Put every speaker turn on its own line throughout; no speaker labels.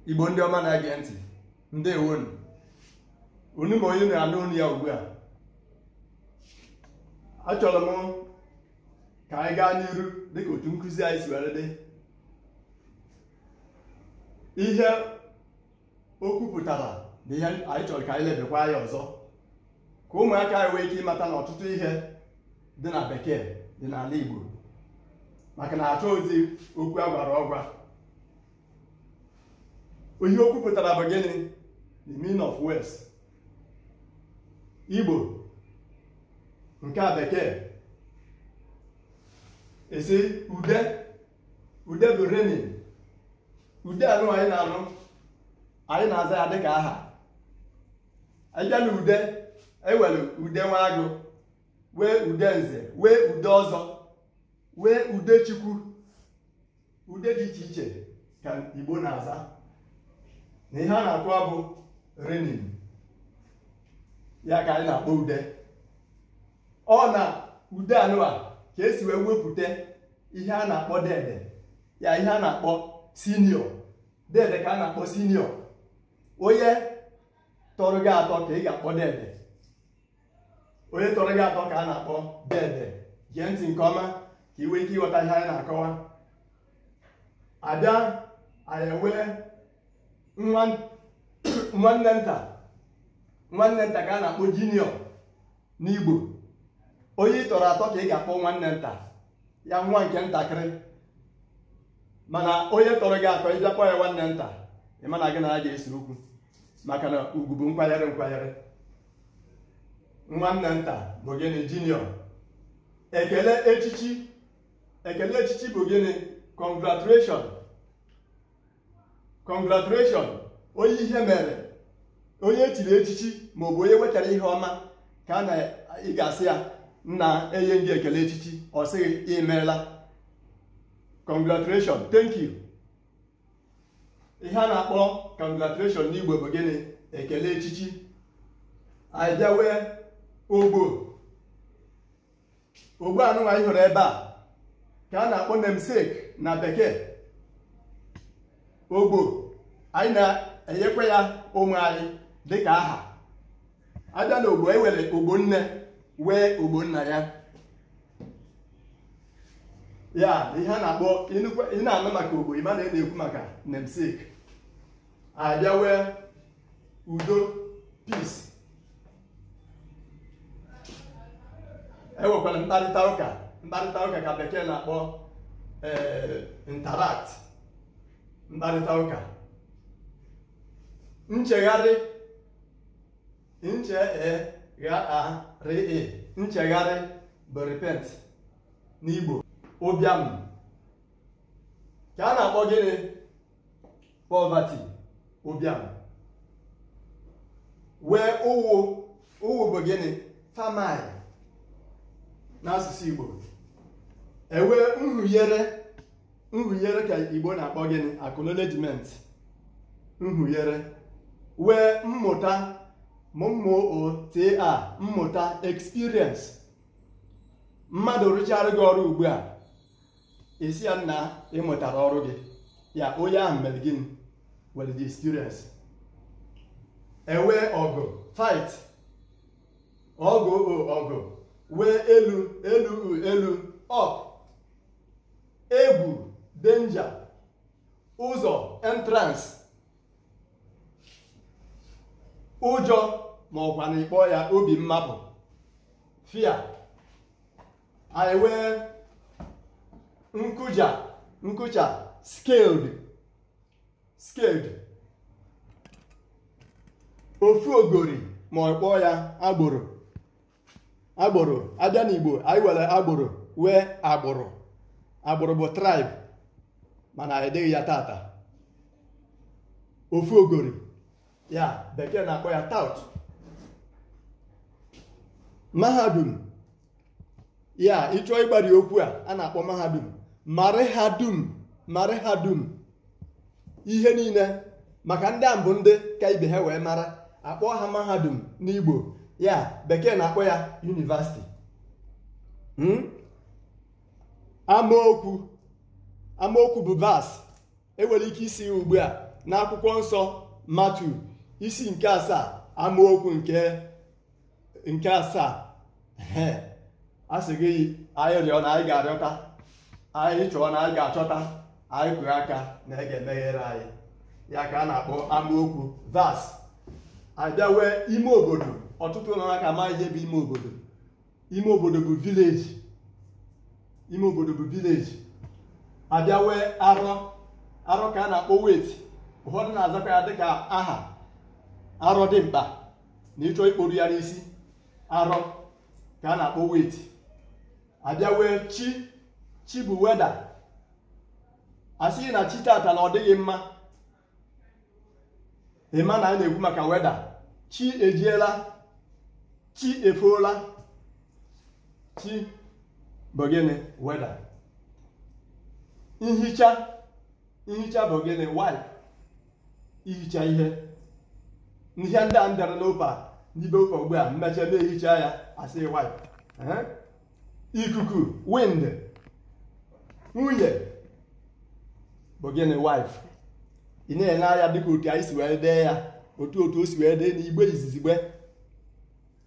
igbo ndị ọma na-ege ntị ndewonu unu ma onye na-anụ olu ya ugbu a achọrọ m ka anyị gaa n'iru dịka otu nkụzi anyị si were dị ihe okwu pụtara na ihe anyị chọrọ ka anyị lebekwa ya ọzọ ka ụmụaka anyị nwee ike ịmata na ọtụtụ ihe dị na bekee dị n'ala igbo maka na achọghịzi okwu agwara ọgwa ihe okwu pụtara bụ gịnị the meaning of words igbo nke a bekee esi ude ude bụ reigning ude anụwa anyị na-anụ anyị na-aza ya dịka aha anyị bịa na ude enwere ude nwa agụ nwee ude nze nwee ude ọzọ nwee ude chukwu ude dị iche iche ka igbo na-aza na ihe a na-akọwa bụ reigning ya ka anyị na-akpọ ude ọ na ude anụwa ka esi wee wepụta ihe a na-akpọ dede ya ihe a na-akpọ senior dede ka a na-akpọ senior onye tọrọ gị atọ ka ị ga-akpọ dede onye tọrọ gị atọ ka a na-akpọ dede gee ntị nke ọma ka ị nwee ike ịghọta ihe anyị na-akọwa abịa anyị enwee nwa- nwanne nta nwanne nta ka a na-akpọ junior n'igbo onye ị tọrọ atọ ka ị ga-akpọ nwanne nta ya nwa nke ntakịrị mana onye tọrọ gị atọ ị bịa kpọ ya nwanne nta ị ma na gị na ya ga-ese okwu maka na ugwu bụ nkwanyere nkwanyere nwanne nta bụ gịnị junior ekele echichi ekele echichi bụ gịnị congratulation congratulation onye ihe mere onye echiri echichi ma ọ bụ onye wetara ihe ọma ka a na ị ga-asị ya nna enye m gị ekele echichi ọ sịghị imeela congratulation thank you ihe a na-akpọ congratulation n'igbo bụ gịnị ekele echichi anyị bịa nwee ogbo ogbo anụnwa anyị hụrụ ebe a ka a na-akpọ namesake na bekee ogbo anyị na-enyekwa ya ụmụ anyị dịka aha abịa na ogbo enwere ogbo nne nwee ogbo nna ya ya ihe a na-akpọ ị na-anụ maka ogbo ị ma na ị na-ekwu maka namesake a bịa nwee udo peace e nwekwara mkparịta ụka mkparịta ụka ka bekee na-akpọ interact mkparịta ụka nchegharị nche e gha a rị e nchegharị bụ repent n'igbo ụbịam ka a na-akpọ gịnị poverty ụbịam nwee ụnwụ ụnwụ bụ gịnị famine n'asụsụ igbo e nwee nhunyere nhunyere ka igbo na-akpọ gịnị acknowledgement nhunyere nwee mmụta mmụta mmụta experience mmadụ rụchaara gị ọrụ ugbu a ị sị ya na ị mụtara ọrụ gị ya onye ahụ mere gịnị nwere experience e nwee ọgụ fight ọgụ ọgụ nwee elu elu elu up egwu danger ụzọ entrance ụjọ ma ọ kwanụ ị kpọọ ya obi mmapụ fear anyị nwee nkụja nkụja scared scared ofu ogori ma ị kpọọ ya agboro agboro a bịa n'igbo anyị nwere agboro nwee agbụrụ agbụrụ bụ tribe mana anyị adịghị ya tata ofu ogori ya bekee na-akpọ ya tout mahadum ya ị chọọ ịgbari okwu a a na-akpọ mahadum mara ha dum mara ha dum ihe niile maka ndị a bụ ndị ka ibe ha wee mara a kpọọ ha mahadum n'Igbo ya bekee na-akpọ ya university hmm? amaokwu amaokwu bụ verse e nwere ike ịsị ugbu a n'akwụkwọ nsọ Matiu isi nke asaa amaokwu nke nke asaa ee a sị gị anyị rịọ na anyị ga-arịọta anyị chọọ na anyị ga-achọta anyị kụrụ aka na a ga-emeghere anyị ya ka a na-akpọ amaokwu verse a bịa nwee ime obodo ọtụtụ unu aka ma ihe bụ ime obodo ime obodo bụ village ime obodo bụ village a bịa nwee arọ arọ ka a na-akpọ weight ụfọdụ na-azakwa ya dịka aha arọ dị mkpa na ị chọọ ikporu ya n'isi arọ ka a na-akpọ weight a bịa wee chi chi bụ weather a sị gị na chi tata na ọ dịghị mma ị ma na a na-ekwu maka weather chi ejiela chi efoola chi bụ gịnị weather nhicha nhicha bụ gịnị wipe ihicha ihe ihe ndị a m dere n'opa n'ibe ụka ugbu a m mechaa m ehichaa ya a sị wipe ikuku wind nwunye bụ gịnị wife ị na-ele anya dịka otu anyị si wee dee ya otu otu o si wee dị n'igbo izizigbe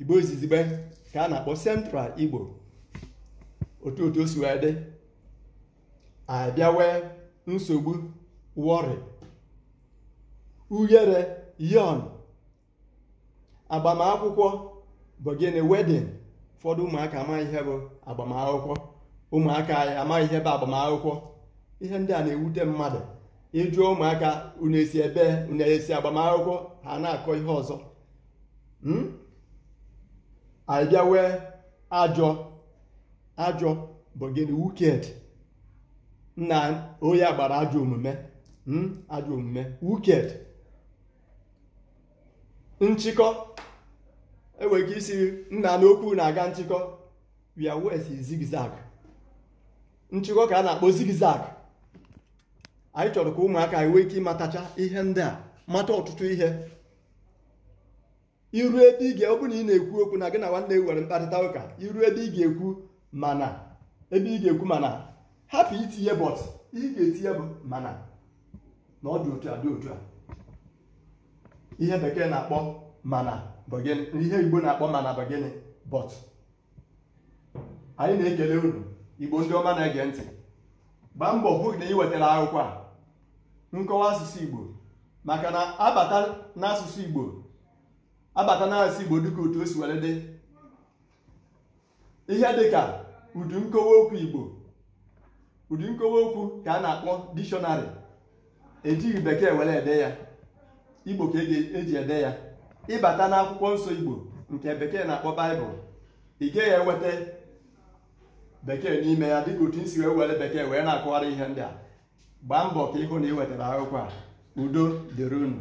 igbo izizigbe ka a na-akpọ central igbo otu otu o si wee dị a bịa wee nsogbu worry ughere yawn agbamakwụkwọ bụ gịnị wedding ụfọdụ ụmụaka amaghị ihe bụ agbamakwụkwọ ụmụaka anyị amaghị ihe bụ agbamakwụkwọ ihe ndị a na-ewute mmadụ ị jụọ ụmụaka unu esi ebe unu esi agbamakwụkwọ ha na-akọ ihe ọzọ Hmm? anyị bịa wee ajọ ajọ bụ gịnị wicked na onye a gbara ajọ omume hmm? ajọ omume wicked nchịkọ e nwere ike ịsị nna n'okwu na-aga nchịkọ a wee sị zigzag nchịkọ ka a na-akpọ zigzag anyị chọrọ ka ụmụaka anyị nwee ike ịmatacha ihe ndị a mata ọtụtụ ihe i ruo ebe ị ga ọ bụrụ na ị na-ekwu okwu na gị na nwanne nwere mkparịta ụka i ruo ebe ị ga-ekwu mana ebe ị ga-ekwu mana hapụ itinye but ị ga-etinye bụ mana na ọ dị otu a dị otu a ihe bekee na-akpọ mana bụ gịnị ihe igbo na-akpọ mana bụ gịnị but anyị na-ekele unu igbo ndị ọma na-ege ntị gbaa mbọ hụ na ị wetara akwụkwọ a nkọwa asụsụ igbo maka na a bata n'asụsụ igbo a bata n'asụsụ igbo dịka otu o si were dị ihe dịka ụdị nkọwa okwu igbo ụdị nkọwa okwu ka a na-akpọ dictionary e jighị bekee were ede ya igbo ka e ji ede ya ị bata n'akwụkwọ nsọ igbo nke bekee na-akpọ bible ị gaghị eweta bekee n'ime ya dịka otu m si wee were bekee wee na-akọwara ihe ndị a gbaa mbọ ka ị hụ na ị wetara akwụkwọ a udo dịrị unu